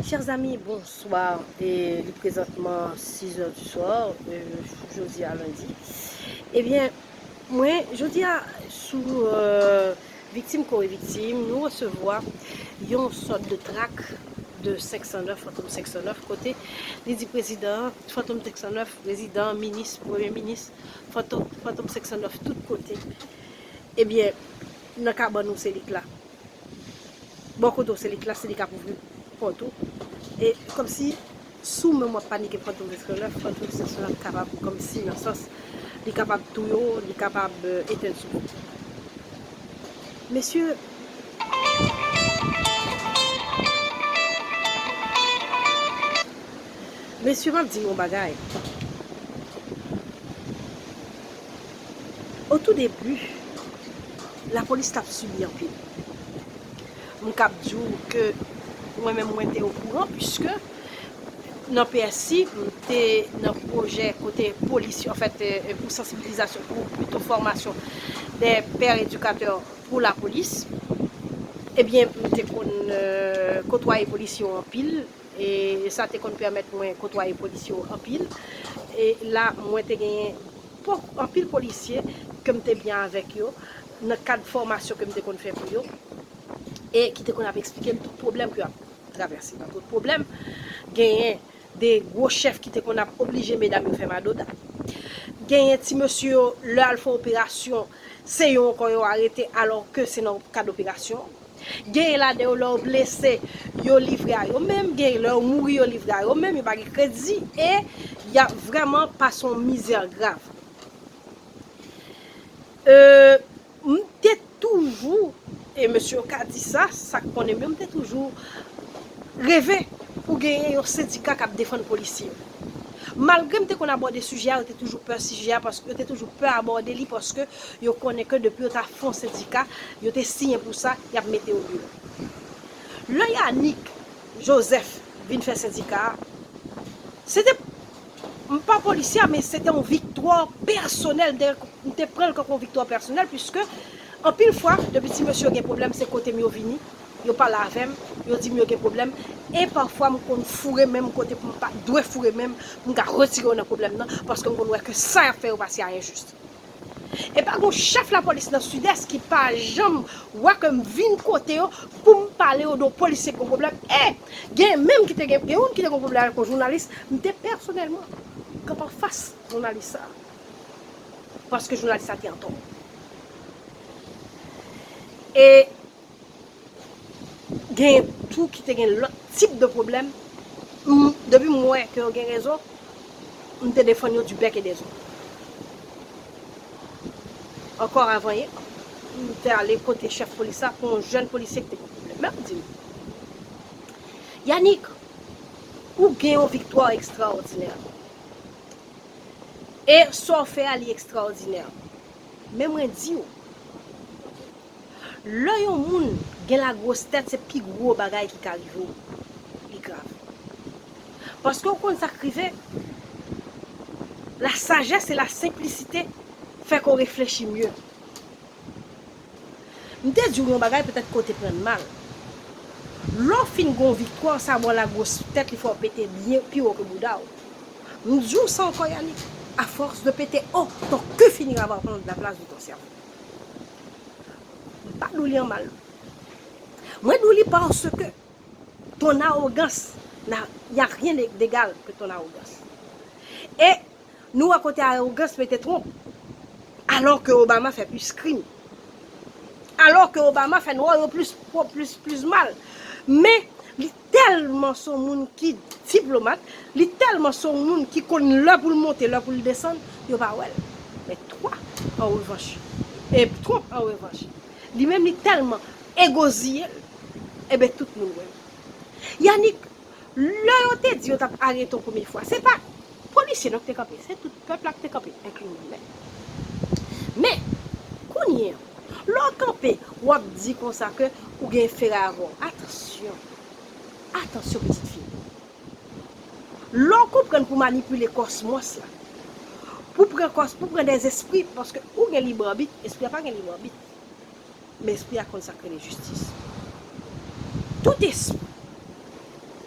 Chers amis, bonsoir, li prezantman 6 heures du soir, jodi a lundi, ebyen mwen jodi a sou viktim kore viktim nou resevwa yon sòt de trak de 509, fantom 509, kote li di prezidan fantom 509, prezidan, minis, premye minis, fantom 509 tout kote, ebyen nan kabann ou se li k la. bò kote w se li k la se li k ap ouvri pòt ou e kòmsi si w menm w ap panike frè tou vèske lè frè tou vèske la ap kapab kòmsi nan sans li kapab touye w li kapab etenn sou kou mesye mesye m ap di nou yon bagay. O tou debu, lapolis tap subi anpil. M kab di w ke mwen menm mwen te o kouran puiske nan PSI m te nan pwojè kote polis yo, an fèt pou sansibilizasyon, pou pito fòmasyon dè pè edikatè pou lapolis. E byen m te konn kotwaye polis yo anpil e sa te konn pèmèt mwen kotwaye polis yo anpil. E la mwen te genyen. Pou anpil polisye ke m te byen avèk yo nan kad fòmasyon ke m te konn fè pou yo e ki te konn ap eksplike m tout pwoblèm ke yo ap travèse. Nan tout pwoblèm, genyen de gwo chèf ki te konn ap oblije medam yo fè madoda. Genyen ti mesye yo, lè al fè operasyon, se yo ankò yo arete alò ke se nan kad operasyon. Genyen ladan yo lè yo blese yo livre a yo menm, genyen lè yo mouri yo livre a yo menm, yo pa gen kredi e y ap vrèman pase yon mizè grav. M te toujou, e mesye yo ka di sa, sa k konnen m yo, m te toujou reve pou genyen yon sendika k ap defann polisye yo. Malgre m te konn abòde sijè a, yo te toujou pè sijè a, yo te toujou pè abòde li paske. Yo konnen ke depi yo ta fon sendika, yo te siyen pou sa, y ap mete yo deyò. Lè Yanick Joseph vin fè sendika a, se te, m pa polisye a, men se te yon viktwa pèsonèl, m te pran l tankou yon viktwa pèsonèl, puiske anpil fwa, depi ti mesye yo gen pwoblèm, se kote m yo vini, yo pale avè m, yo di m yo gen pwoblèm, e pafwa m konn foure men m kote pou m pa dwe foure men m, pou m ka retire yo nan pwoblèm nan, paske m konn wè ke sa y ap fè yo pa si a enjis. E pa gon chèf lapolis nan Sidès ki pa janm wè ke m vin kote yo pou m pale yo de yon polisye ki gon pwoblèm. E, gen menm ki te gen, gen youn ki te gen pwoblèm avèk yon jounalis, m te pèsonèlman kanpe anfas jounalis sa a. Paske jounalis sa a te antò. E. Genyen tou ki te gen lòt tip de pwoblèm, m depi m wè ke yo gen rezon, m te defann yo di bèk e dezong. Ankò avan yè, m te ale kote chèf polis la pou yon jèn polisye ki te gen pwoblèm. Men m di l, Yanick, ou gen yon viktwa ekstraòdinè. E sa w fè a li ekstraòdinè. Men mwen di w. Lè yon moun gen la gwos tèt se pi gwo bagay ki ka rive w li grav paske w konn sa k rive la sajès e la senplisite fè ke w reflechi mye m te di w yon bagay petèt ke w te pran l mal lè w fin gen yon viktwa w sa bon la gwos tèt li fè w pete byen pi wo ke bouda w m di w sa ankò Yanick a fòs de pete o ton ku fini ravanplan w la plas de ton sèvo. M pa dou li an mal. Mwen dou li paske ton arogans na y a rien d'egal que ton arogans. E nou wè kote arogans mete Trump. Alò ke Obama fè plis krim. Alò ke Obama fè nwa yo plis mal. Men tèlman son moun ki diplomat, li tèlman son moun ki konn lè pou l monte, lè pou l desann, yo pa wè l. Men Twa an revanch, e Twonp an revanch, li menm li tèlman egoziye l, enben tout moun wè l. Yannick, lè yo te di yo t ap arete w premye fwa, se pa polisye non ki te kanpe, se tout pèp la ki te kanpe, enkli mwen menm. Men, kounye an. Lè w kanpe, w ap di konsa ke ou gen feray avè w. Atansyon! Atansyon pitit fi m! Lè w konprann pou manipile kòsmòs la, pou pran kòs, pou pran dè zespri, paske ou gen lib anbit, espri a pa gen lib anbit. Men espri a konn sa k rele jistis. Tout espri,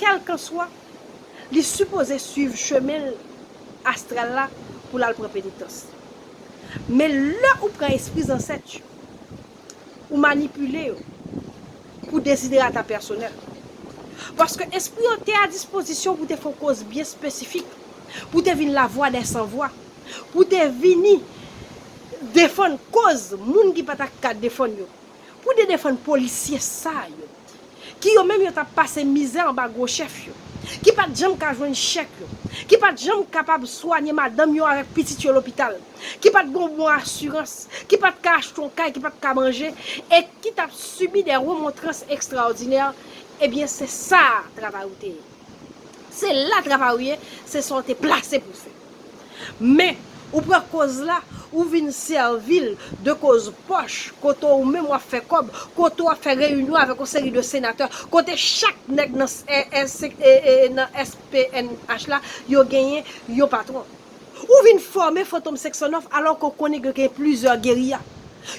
kèlkanswa, li sipoze swiv chemen l astral la pou l al pran penitans. Men lè ou pran espri zansèt yo, ou manipile yo pou deziderata pèsonèl ou. Paske espri yo te a dispozisyon pou te fè yon koz byen espesifik, pou te vin lavwa dè san vwa, pou te vini defann koz moun ki pa ta ka defann yo. Pou de defann polisye sa yo. Ki yo menm yo tap pase mizè anba gwo chèf yo. Ki pat janm ka jwenn chèk yo. Ki pat janm kapab swanye madanm yo avèk pitit yo lopital. Ki pat gon bon asirans. Ki pat ka achte yon kay, ki pat ka manje. E ki tap sibi de remontrans ekstraòdinè. Ebyen se sa travay ou te ye. Se la travay ou ye, se sa ou te plase pou fè. Men, ou pran koz la, ou vin sèvi l de koz pòch, kote ou menm w ap fè kòb, kote w ap fè reyinyon avèk yon seri de senatè, kote chak nèg nan SPNH la yo genyen yon patwon. Ou vin fòme Fantom 509 alò ke w konnen ke gen plizyè geriya.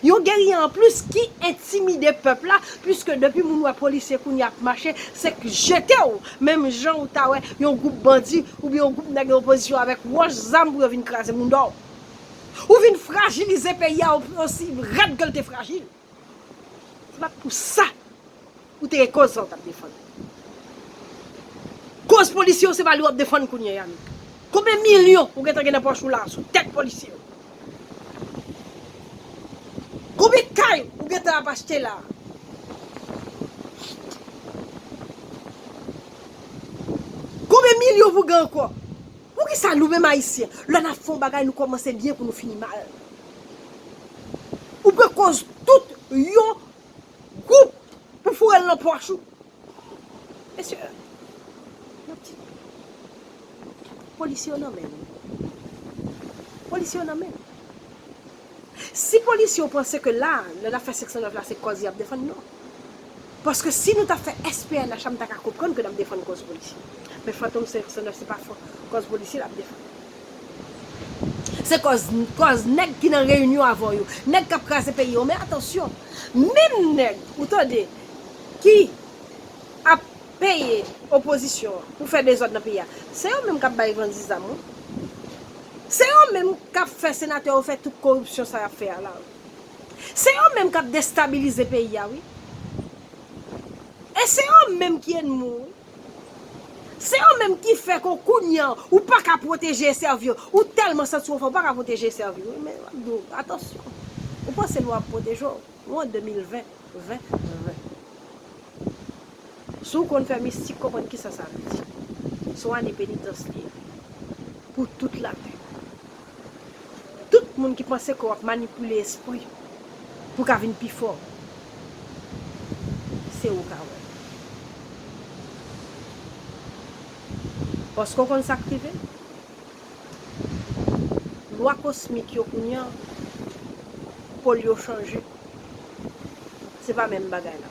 Yon geriye an plis ki entimide pèp la puiske depi moun wè polisye kounye a ap mache se k jete w menm jan ou ta wè yon gwoup bandi oubyen yon gwoup nèg nan opozisyon avèk wòch, zam pou yo vin kraze moun dò. Ou vin frajilize peyi a osi rèd ke l te frajil. Se pa t pou sa. Ou te gen koz sa ou tap defann. Koz polisye yo se pa li wap defann kounye ya menm. Konbyen milyon ou gentan gen nan pòch ou la sou tèt polisye yo? Konbyen kay ou gentan ap achte la? Konbyen milyon pou gen ankò? Poukisa nou menm ayisyen lè nap fè yon bagay nou kòmanse byen pou nou fini mal? Ou pran koz tout yon Goup pou foure l nan pòch ou. Mesye nap di polisye yo nan men nou. Polisye yo nan men nou. Si polisye yo panse ke la nan zafè 509 la se kòz yap defann non. Paske si nou ta fè SPNH la m ta ka konprann ke nap defann kòz polisye. Men fantom 509 se pa kòz polisye lap defann. Se kòz kòz nèg ki nan reyinyon avè w yo. Nèg k ap kraze peyi yo. Men atansyon, menm nèg, ou tande, ki ap peye opozisyon an pou fè dezòd nan peyi a, se yo menm k ap bay bandi zam wi. Se yo menm k ap fè senatè yo fè tout koripsyon sa y ap fè a la wi. Se yo menm k ap destabilize peyi a wi. E se yo menm ki enmi w wi. Se yo menm ki fè ke w kounya ou pa ka pwoteje e sèvi yo. Ou tèlman santi w fò, ou pa ka pwoteje e sèvi yo. Men, m ap di w, atansyon! Ou panse lwa ap pwoteje w? Nou an 2020, 20, 20. Si w konn fè mistik, konprann kisa sa vle di. Se yon ane penitans li ye. Pou tout lavi w. Tout moun ki panse ke wap manipile espri pou ka vin pi fò se ou ka wè. Paske w konn sak rive? Lwa kosmik yo kounya pol yo chanje. Se pa menm bagay la.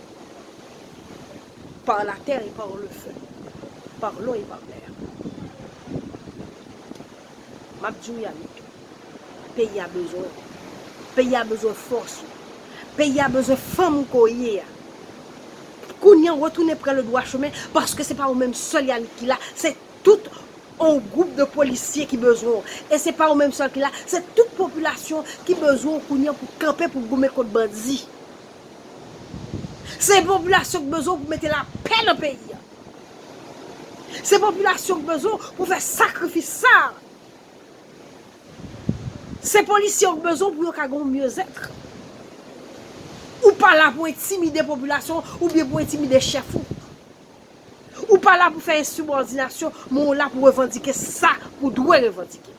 Par la terre et par le feu. Par l'eau et par l'air. Map diw Yanick. Peyi a bezwen ou. Peyi a bezwen fòs ou. Peyi a bezwen fanm ou ke w ye a. Kounya w retounen pran le dwa chemen paske se pa ou menm sèl Yanick ki la. Se tout on gwoup de polisye ki bezwen ou. E se pa ou menm sèl ki la. Se tout popilasyon ki bezwen ou kounya pou kanpe pou goumen kont bandi. Se popilasyon ki bezwen w pou mete lapè nan peyi a. Se popilasyon ki bezwen w pou fè sakrifis sa a. Se polisye yo ki bezwen w pou yo ka gen yon myezètre. Ou pa la pou entimide popilasyon ou byen pou entimide chèf ou. Ou pa la pou fè ensibòdinasyon men ou la pou revandike sa ou dwe revandike.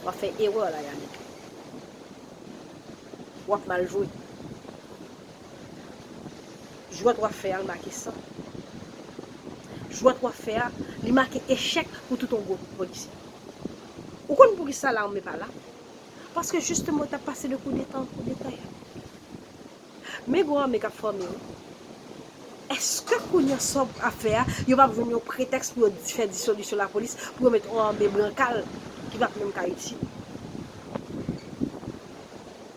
Wap fè erè la Yanick. Wap mal jwe. Jwèt wap fè a l make san. Jwèt wap fè a li make echèk pou tout yon gwoup polisye. Ou konn poukisa lame pa la? Paske jisteman yo tap pase de koudeta an koudeta. Men gwo ame kap fòme wi. Eske kounya sa w ap fè a yo pap jwenn yon pretèks pou yo fè disolisyon lapolis pou yo met on ame brankal ki pap menm ka itil.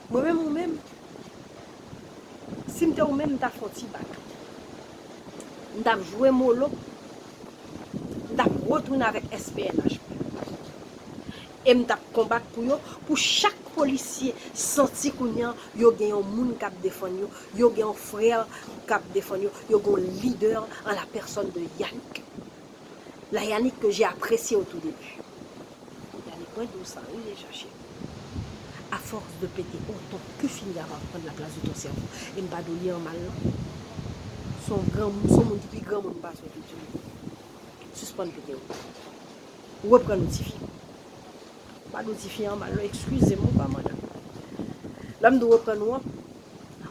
Mwen menm ou menm si m te ou menm m ta fon ti bak. M tap jwe molo m tap retounen avèk SPNH mwen. E m tap konbat pou yo, pou chak polisye santi kounya yo gen yon moun kap defann yo, yo gen yon frère kap defann yo, yo gen yon leader en la personne de Yanick. La Yanick ke j'ai apprécié au tout début. Yanick mwen di w sa wi deja cheri. A force de pete o ton ke fini ava pran la plas de ton sèvo. E m pa di w li an mal non. Son gran, son moun ki pi gran moun pase w tout di m. Sispann pete o ton. reprann ou tifi. Mwen pa di w tifi an mal non, ekskize m ou pa madanm. Lè m di w reprann ou an,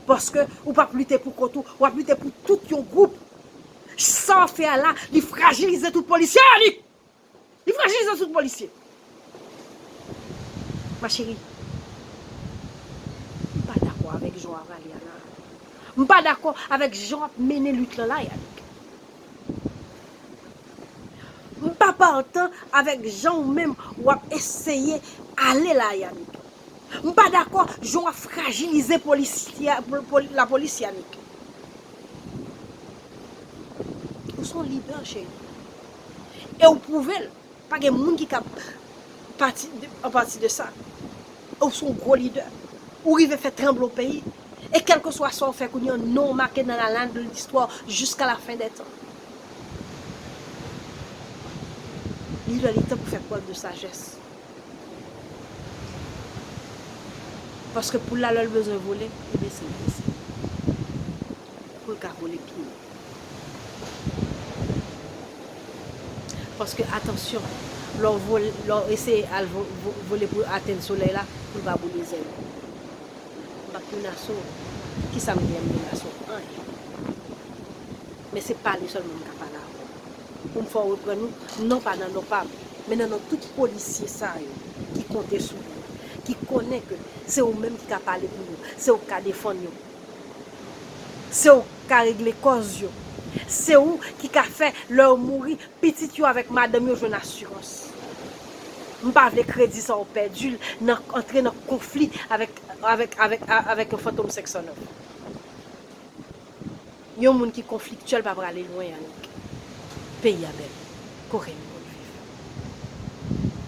paske ou p ap lite pou kont ou, w ap lite pou tout yon gwoup. Sa w ap fè a la, li frajilize tout polisye annik! Li frajilize tout polisye. Ma chérie, m pa dakò avèk jan w ap ale a la. M pa dakò avèk jan w ap mennen lit lan la Yannick. M pa partan avèk jan ou menm wap eseye ale la Yanick. M pa dakò jan wap frajilize la polis Yanick. Ou son lidè cheri. E ou pwouve l. Pa gen moun ki ka pati an pati de sa. Ou son gwo lidè. Ou rive fè tranble yon peyi. E kèlkeswa sa ou fè kounye an, non w make nan lanal de listwa jiska lafen dè tan. Li lè li tan pou fè prèv de sajès. Paske poul la lè l bezwen vole, li bese l bese. pou l ka kole pi byen. Paske atansyon, lè w vole, lè w eseye al vole pou atenn solèy la, pou l pa boule zèl ou. M pa p menase w. Ki sa m gen lè m menase w? Anyen. Men se pale sèlman m ka pale avè w. Pou m fè w reprann ou, non pa nan non pa m, men nan non tout polisye sa yo ki konte sou ou, ki konnen ke se ou menm ki ka pale pou yo, se ou k ka defann yo. Se ou ki ka regle kòz yo. Se ou ki ka fè lè yo mouri, pitit yo avèk madanm yo jwenn asirans. M pa vle kredi sa ou pèdi l nan antre nan konfli avèk yon fantom 509. Yon moun ki konfliktyèl pa prale lwen annik. Peyi a bèl. Kokenn moun viv.